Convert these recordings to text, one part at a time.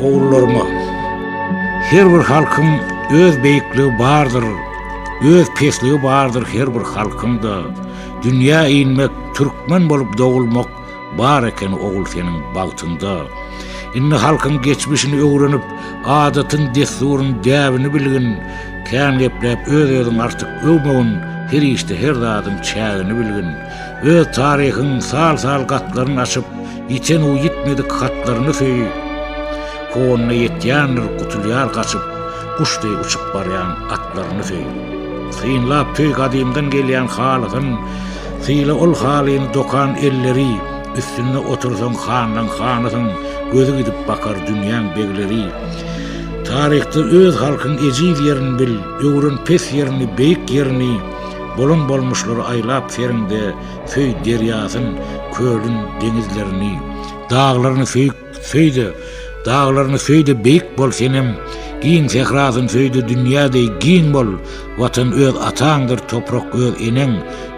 Ogullarym-a, her bir halkyň öz beýikligi bardyr, öz pesligi bardyr her bir halkyň-da, dünýä inmek, türkmen bolup dogulmak bar eken ogul seniň bagtyňda. Indi halkyň geçmişini öwrenip, adatyn, dessuryn, däbini bilgin, kän gepläp öz-özüňi artyk öwmegin, her işde her zadyň çägini bilgin. Öz taryhyň sal-sal gatlaryny açyp, ýiten u ýitmedik hatlaryny söý. Kowanyna ýetýändir, gutulýar gaçyp, guş deý uçup barýan atlaryny söý. Synlap söý gadymdan gelýän halysyn, syla ol halyny dokan elleri, üstünde otursaň hanlaň hanysyň, gözi gidip bakar dünýäň begleri. Taryhda öz halkyň ejiz ýerini bil, öwren pes ýerini, beýik ýerini, Bolan bolmuşlary aýlap seriňde söý derýasyn, kölün, deňizlerini. Daglaryny söý, söý-de, daglaryny söý-de beýik bol senem, giň sährasyn söý-de dünýä deý giň bol, Watan öz ataňdyr, toprak öz eneň,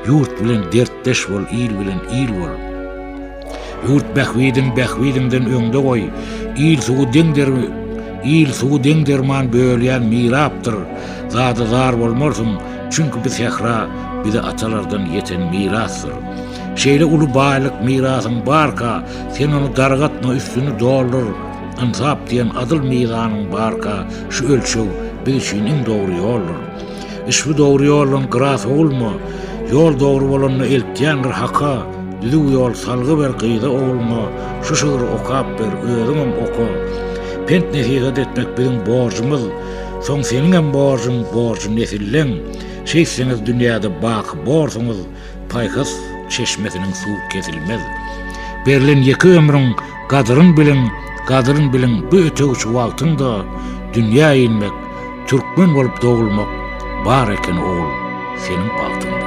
ýurt bilen dertdeş bol, il bilen il bol. Ýurt bähbidin bähbidiňden öňde goý, Il suwy deň Il suwy deň derman bölýän mirapdyr, Zada zar bolmarsyň, çünki bi sähra bize atalardan ýeten mirasdyr. Şeýle uly baýlyk mirasyň barka, sen ony dargatma, üstüni doldur, Ynsap diýen adyl mizanyň barka, şu ölçeg biz üçin iň dogry ýoldur. Iş bu dogry ýoldan gyra sowulma, Ýol dogry bolanda eltýän bir haka, Düzüw ýol salgy ber gyza ogluňa, Şu şygry okap ber, özüňem oka. Pent-nesihat etmek biziň borjumyz, Soň seniňem borjuň, borjy nesilleň. Şeýtseňiz dünýäde baky borsuňyz, Paýhas çeşmesiniň suwy kesilmez. Berlen ýeke ömrüň gadyryn biliň, gadyryn biliň bu ötegçi wagtyňda dünýä inmek, türkmen bolup dogulmak bar eken ogul seniň bagtyňda.